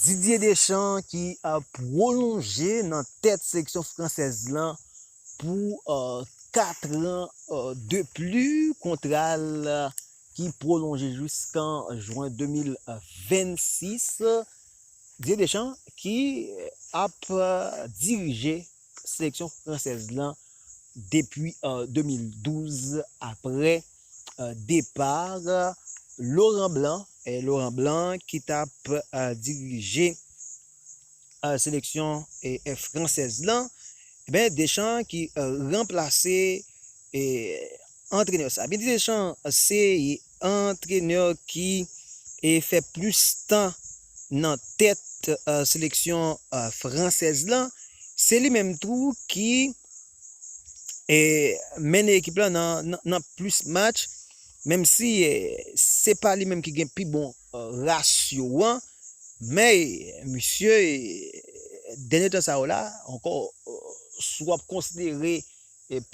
Didier Deschamps ki pwolonje nan tèt seleksyon fransèz lan pou 4 ran de pli, kontra l ki pwolonje jiskan jwen 2026. Didier Deschamps ki ap dirije seleksyon fransèz lan depi 2012 aprè. depar Laurent Blanc, Laurent Blanc ki t ap dirije seleksyon fransèz lan, enben Deschamps ki ranplase antrenè sa. Didier Deschamps se antrenè ki fè plis tan nan tèt seleksyon fransèz lan, se li menm tou ki. mennen ekip la nan plis match, menm si se pa li menm ki gen pi bon rasyo an, men misye dènye tan sa yo la ankò si wap konsidere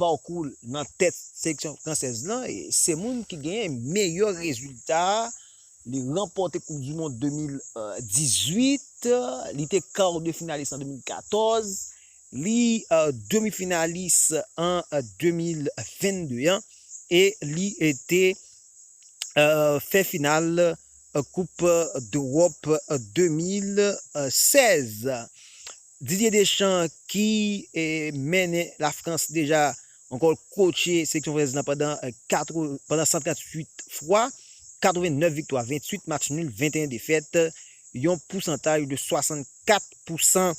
pakou l nan tèt seleksyon fransèz lan, se moun ki genyen meyè rezilta, li ranpòte koup di mond 2018, li te kar de finalis an 2014, Li demi finalis an 2022 an e li te fè final koup dEwòp 2016. Didier Deschamps ki mennen Lafrans deja Ankò l kotche seleksyon franzèz lan pandan 138 fwa, 89 viktwa, 28 match nul, 21 defèt, yon pousantaj de 64 pou san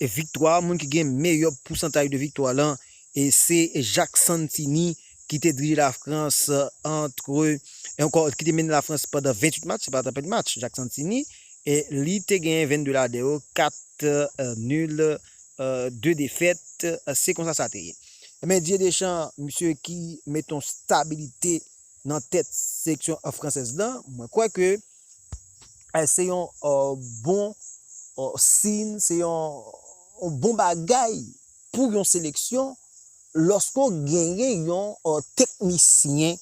viktwa. Moun ki gen meyè pousantaj de viktwa lan se Jacques Santini ki te dirije Lafrans antre, ankò ki te mennen Lafrans pandan 28 match, se pa ta pèdi match Jacques Santini, li te genyen 22 lade yo, 4 nul. 2 defèt se konsa sa te ye. Ebyen Didier Deschamps misye ki mete yon stabilite nan tèt seleksyon fransèz lan, mwen kwè ke se yon bon siyn, se yon bon bagay pou yon seleksyon lòske w genyen yon teknisyen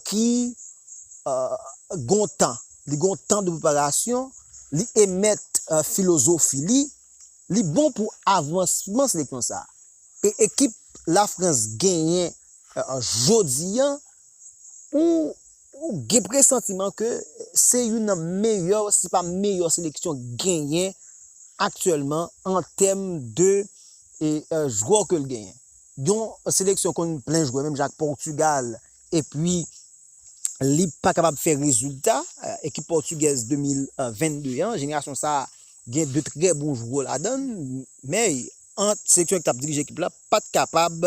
ki gen yon tan, li gen yon tan de preparasyon, li emèt filozofi li, li bon pou avansmans lekman sa e ekip la Frans genyen jodi an ou gen presantiman ke se youn nan meyè si pa meyè seleksyon genyen aktyèlman an tèm de jwè ke l genyen. Yon seleksyon konn plen jwè menm jan ak Portugal Epi, li pa kapab fè rezilta. Ekip pòtigèz 2022 an, jenerasyon sa a gen 2 trè bon jwè ladan l, men ant seleksyon ki t ap dirije ekip la pa t kapab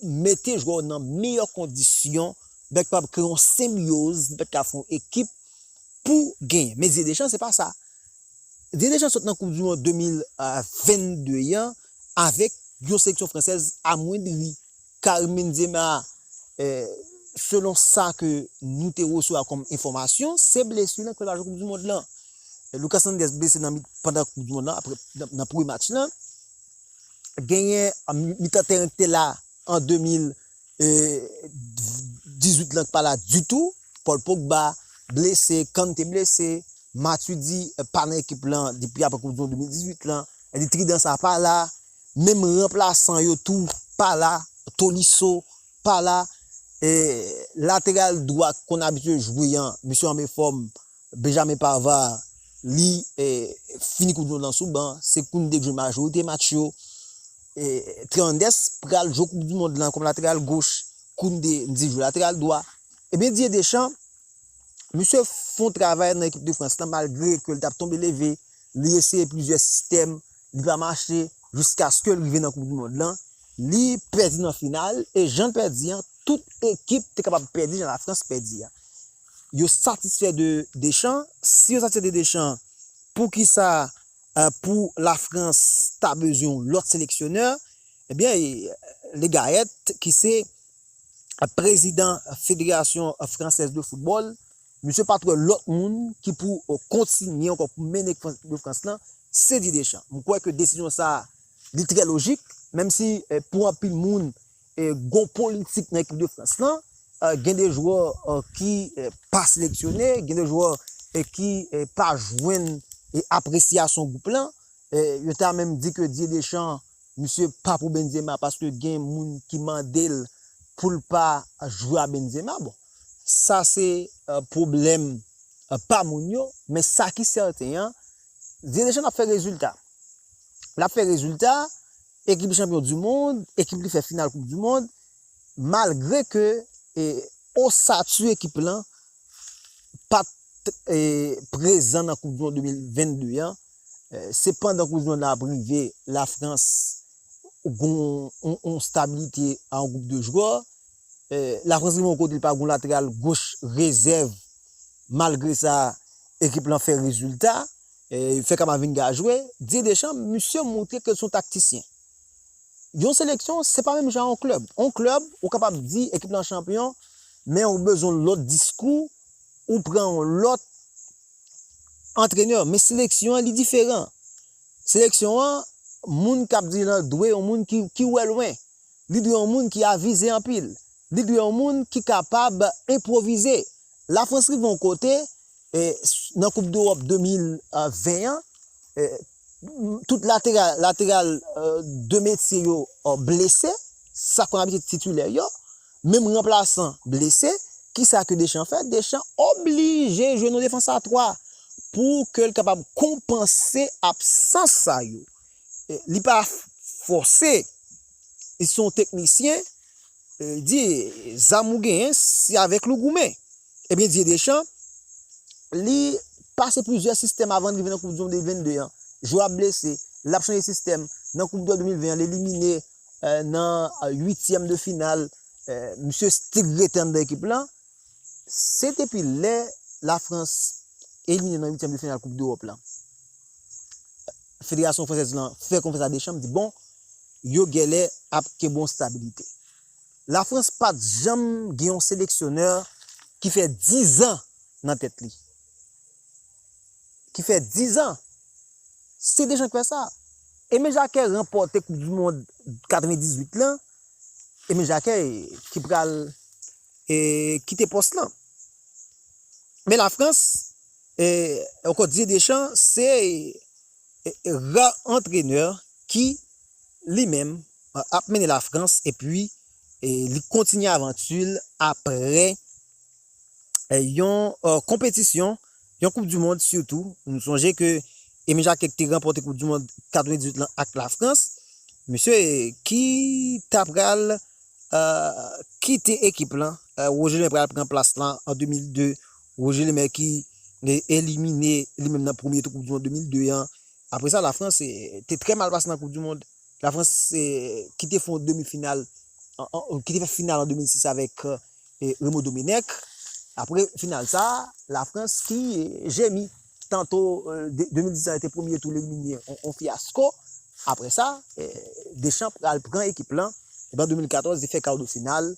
mete jwè yo nan meyè kondisyon, li pa t kapab kreye yon senbyoz, li pa t ka fè yon ekip pou genyen. Men Didye Deschamps se pa sa. Didye Deschamps sot nan koup di mond 2022 an avèk yon seleksyon fransèz amwendri. Carmine Zema, Selon sa ke nou te resevwa kòm enfòmasyon, se blesur nan preparasyon koup du mond lan. Lucas Hernandez blese nan pandan koup du mond lan aprè nan premye match lan. Genyen mitan tèren ki te la an 2018 lan ki pa la ditou. Paul Pogba blese, Kante blese, Matuidi pa nan ekip lan depi aprè koup du mond 2018 lan. Trident sa pa la, menm ranplasan yo tou pa la, Tolisso pa la, lateral dwat konn abitye jwe an misye anbe fòm, Benjamin Pavard li fini kou dlo nan sou ban, se Koundé ki jwe majorite match yo, Théandès pral jwe koup di mond lan kòm lateral goch, Koundé m di jwe lateral dwa, ebyen Didier Deschamps misye fon travay nan ekip de Frans lan malgre ke li tap tonbe leve, li eseye plizyè sistèm, li pa mache jiskaske l rive nan koup di mond lan, li pèdi nan final e jan l pèdi an tout ekip te kapab pèdi jan lafrans pèdi an. Yo satisfè de Deschamps, si yo satisfè de Deschamps poukisa pou lafrans ta bezwen yon lòt seleksyonè, ebyen Le Gayèt ki se prezidan federasyon fransèz de foutbòl Misye pat wè lòt moun ki pou kontinye ankò pou mennen ekip de Frans lan, se Didier Deschamps. M kwè ke desizyon sa a li trè lojik, menm si pou anpil moun gon politik nan ekip de Frans lan, gen de jwè ki pa seleksyone, gen de jwè ki pa jwenn apresyasyon gwoup lan, yo ta menm di ke Didier Deschamps Misye pa pou Benzema paske gen moun ki mandel poul pa jwe a Benzema bon sa se pwoblèm pa moun yo men sa ki sèten an Didier Deschamps ap fè rezilta lap fè rezilta ekip li chanpyon du mond ekip li fè final koup du mond malgre ke osatu ekip lan pat prezan nan koup du mond 2022 an Se pandan koup du mond la ap rive la frans gon yon stabilite a yon group de jwè, la frans rive yon kote li pa gon lateral goch rezèv malgre sa ekip lan fè rezilta, yo fè kamavinga jwe, Didier Deschamps misye montre ke li son taktisyen. Yon seleksyon se pa menm jan a yon klèb, yon klèb ou kapab di ekip lan chanpyon men ou bezwen yon lòt diskou, ou pran yon lòt antrenè men seleksyon an li diferan seleksyon an moun kap diri lan dwe yon moun ki wè lwen li dwe yon moun ki avize anpil li dwe yon moun ki kapab enpwovize la frans rive yon kote nan koup dewòp 2020 an. Tout lateral lateral 2 metye yo blese, sa konn abitid titilè yo, menm ranplasan blese, kisa ke Deschamps fè? Deschamps oblije jwe nou defans a 3 pou ke l kapab konpanse absans sa yo. Li pa fòse, li se yon teknisyen, Di, zam ou genyen, se avèk li w goumen. Ebyen Didye Deschamps, li pase plizyè sistèm avan li rive nan koup di mond 2022 an. Jwè ap blese, l ap chanje sistèm. Nan koup dò 2020 an, l elimine nan uityèm de final. Misye strik rete anndan ekip lan. Se depi lè Lafrans elimine nan uityèm de final koup dewòp lan, federasyon fransèz lan fè konfyans a Deschamps, li di bon, yo gèlè ap ke bon stabilite. La Frans pat janm gen yon seleksyonè ki fè 10 ans nan tèt li. Ki fè 10 ans. Se Deschamps ki fè sa. Aimé Jacquet ranpòte koup du mond 98 lan, Aimé Jacquet ki pral kite pòs lan. Men la Frans, Didier Deschamps se Rare antreneur ki li menm ap mennen la France epi li kontinye avanti l apre yon konpetisyon, yon koup du mond sitou, nou sonje ke Emile Jacquet te ranpòte koup du mond 98 lan ak la France, misye ki ta pral kite ekip lan, Roger Miller pral pran plas lan an 2002 Roger Lemaire ki te elimine li menm nan premye tou koup du mond 2002 an. Apre sa Lafrans te trè mal pase nan koup du mond. Lafrans ki te fè yon demi final, ki te fè final an 2006 avèk Raymond Domenech. Apre final sa, Lafrans ki jemi. Tanto 2010 la te premye tou lelimine yon fiyasko. Apre sa, Deschamps pral pran ekip lan. Epi an 2014, li fè kawdefinal.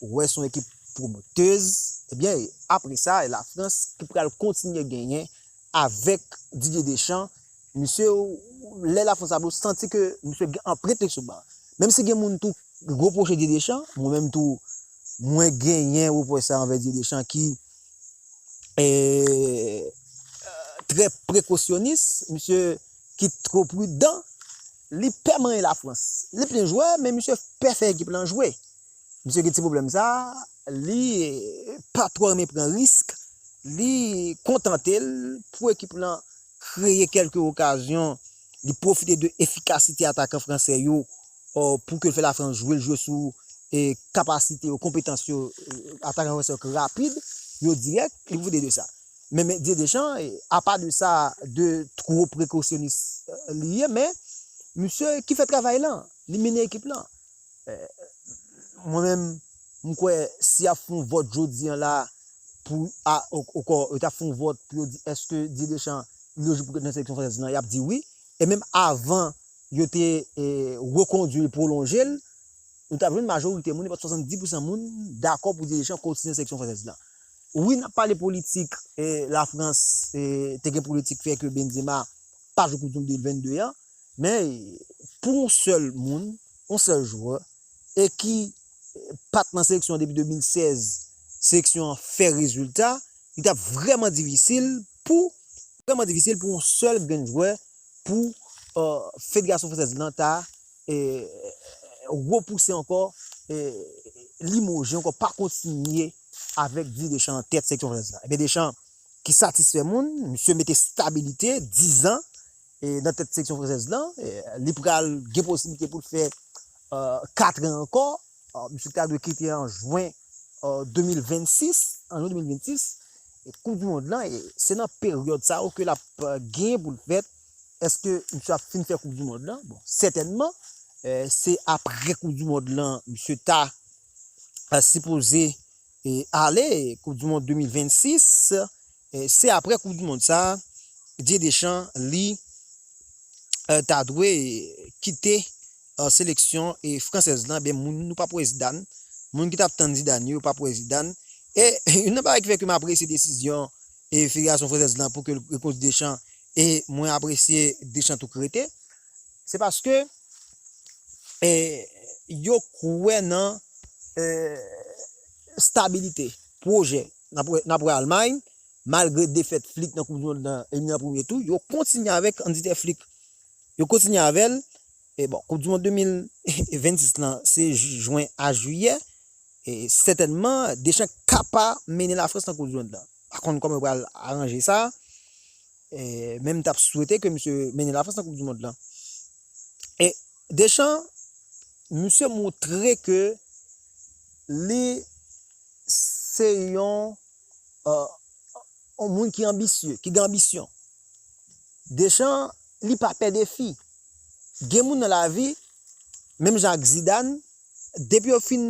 Ou wè se yon ekip pwomotez. Ebyen, apre sa, e Lafrans ki pral kontinye genyen avèk Didier Deschamps. Misye, lè Lafrans ap jwe, ou santi ke misye gen anprent li sou ban. Menm si gen moun tou repwoche Didier Deschamps, mwen menm tou mwen genyen repwòch sa anvè Didier Deschamps ki trè prekosyonis, misye ki two pridan, li pè manyen Lafrans. Li byen jwè, men misye pè fè ekip lan jwe. Misye gen ti pwoblèm sa a, li pa twò renmen pran risk, li kontante l pou ekip lan kreye kèlke okazyon. li pwofite de efikasite atakan fransè yo pou ke l fè Lafrans jwe, l jwe sou kapasite yo, konpetans yo, atakan fransè yo ki rapid, yo dirèk, li pwofite de sa. Men Didier Deschamps, apa de sa, de two prekosyonis li ye, men misye ki fè travay lan, li mennen ekip lan. Mwen menm. M kwè si yap fon vòt jodi an la pou a onkò yo ta fon vòt pou yo di eske Didier Deschamps li lojik pou l ret nan seleksyon fransèz lan yap di wi e menm avan yo te rekondwi l pwolonje l nou tap jwenn majorite moun e pap 70 pousan moun dakò pou Didier Deschamps kontinye nan seleksyon fransèz lan. Wi nap pale politik la Frans te gen politik fè ke Benzema pa jwe koup du mond 2022 an men pou yon sèl moun yon sèl jwè e ki pa t nan seleksyon an depi 2016, seleksyon an fè rezilta, li t ap vrèman difisil pou vrèman difisil pou yon sèl grenn jwè pou federasyon fransèz lan ta repouse ankò, limoje ankò, pa kontinye avèk Didier Deschamps nan tèt seleksyon fransèz la. Ebyen Deschamps ki satisfè moun, misye mete stabilite, dizan, nan tèt seksyon fransèz lan, li pral gen posiblite pou l fè katren ankò, misye ta dwe kite an jwen 2026, koup di mond lan, se nan peryòd sa yo ke l ap gen pou l fèt, èske misye ap fin fè koup di mond lan, bon sètènman, se apre koup di mond lan misye ta sipoze ale, koup di mond 2026, Se aprè koup du mond sa Didier Deschamps li ta dwe kite seleksyon fransèz lan ebyen moun nou pap wè Zidane, moun ki tap tann Zidane yo pap wè Zidane e youn nan bagay ki fè ke m apresye desizyon federasyon fransèz lan pou ke l rekonduit Deschamps e mwen apresye Deschamps tou k rete se paske yo kwè nan stabilite, pwojè N ap wè Almay, malgre defèt Flick nan koup du mond lan elimine nan premye tou, yo kontinye avèk kandite Flick. Yo kontinye avè l. E bon, koup du mond 2026 lan se jwen a jiyè. E sètènman Deschamps ka pa mennen Lafrans nan koup du mond lan. Pa konn kòman yo pral aranje sa. Men m t ap swete ke misye mennen Lafrans nan koup du mond lan. E Deschamps, misye montre ke li se yon moun ki anbisye, ki gen anbisyon. Deschamps, li pa pè defi. Gen moun nan lavi, menm jan ak Zidane, depi yo fin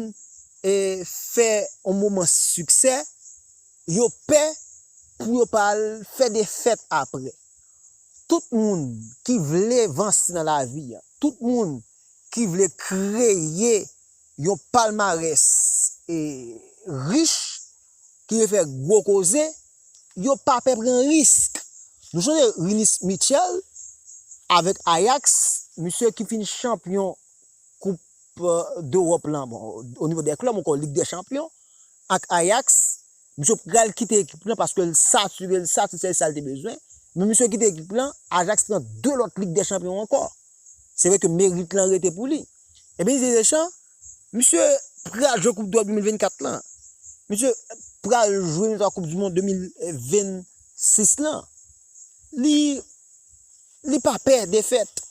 fè yon moman siksè, yo pè pou yo pa al fè defèt apre. Tout moun ki vle vanse nan lavi, tout moun ki vle kreye Yon palmarès rich ki vle fè gwo koze, yo pa pè pran risk. Nou sonje Rinus Michel avèk Ajax, misye ki fin chanpyon koup dEròp lan, bon o nivo dè klèb mwen kwè lig dè chanpyon ak Ajax, misye pral kite ekip lan paske l sature, l satisfè sa l te bezwen, men misye kite ekip lan, Ajax pran 2 lòt lig dè chanpyon ankò. Se vre ke merit lan rete pou li. Ebyen Didier Deschamps, misye pral jwe koup dwèt 2024 lan, misye pral jwe yon lòt koup di mond 2026 lan, li pa pè defèt,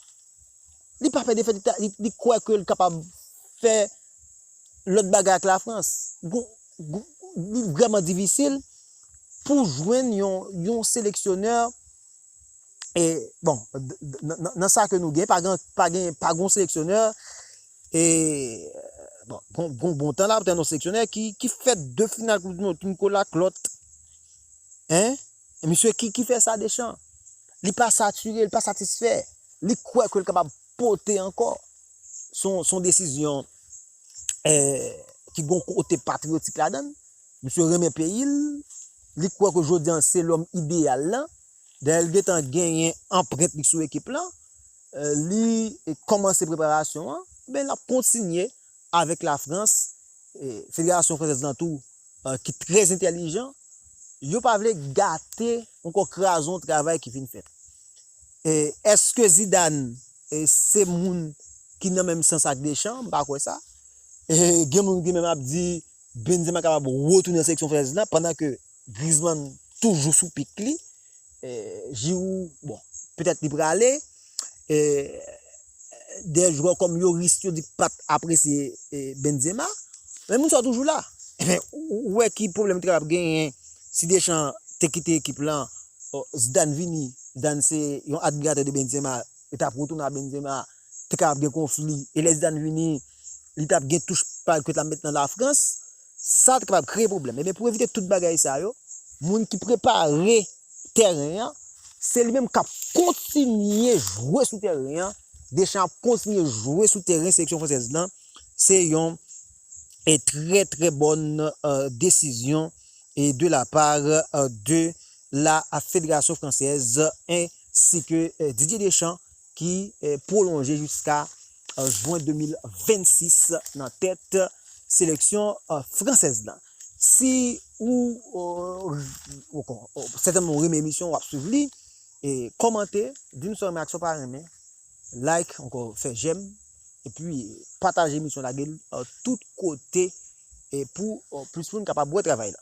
li pa pè defèt, li kwè ke li kapab fè lòt bagay ak la Frans, li vrèman difisil pou jwenn yon seleksyonè, E bon, nan sa ke nou gen, pa gen, pa gen, pa gen yon seleksyonè, e, bon, bon, bon, bon tan la, pa gen yon seleksyonè ki, ki fè de final koup di mond, ki mko la klòt, hein, e misye ki, ki fè sa de chan, li pa sature, li pa satisfè, li kwè ke li kapab pote ankò, son, son desizyon, eh, ki gon kote patriotik ladann, Misye renmen peyi l, li kwè ke jodi an se lòm ideyal lan. Dayè li gentan genyen anprent li sou ekip lan. Li kòmanse preparasyon an, men l ap kontinye avèk Lafrans. Federasyon fransèz lan tou ki trè entèlijan, yo pa vle gate onkò kraze yon travay ki fin fèt. Èske Zidane se moun ki nan menm sans ak Deschamps? M pa kwè sa. Gen moun ki menm ap di Benzema kapab retounen nan seleksyon franseuz la pandan ke Griezmann toujou sou pik li. Giroud, bon, petèt li prale. Dè jwè kòm Lloris yo di pat apresye Benzema. Men moun sa yo toujou la. Enfen, ou wè ki pwoblèm te kapab genyen si Deschamps te kite ekip lan, Zidane vini, Zidane se yon admiratè de Benzema, li tap retounen a Benzema. te ka ap gen konfli e lè Zidane vini li tap gen touch pa l ke ta met nan la Frans sa te kapab kreye pwoblèm e ben pou evite tout bagay sa yo moun ki prepare tèren an se li menm kap kontinye jwe sou tèren an Deschamps ap kontinye jwe sou tèren seleksyon fransèz lan se yon e trè trè bòn desizyon e de la par de la federasyon fransèz e si ke Didier Deschamps ki pwolonje jiska jwen 2026 nan tèt seleksyon fransèz la. Si ou sètènman ou renmen emisyon wap swiv li, kòmante, di nou sa ou renmen ak sa ou pa renmen, like ankò fè jèm epi pataje emisyon lage l tout kote pou plis moun kapab wè travay la.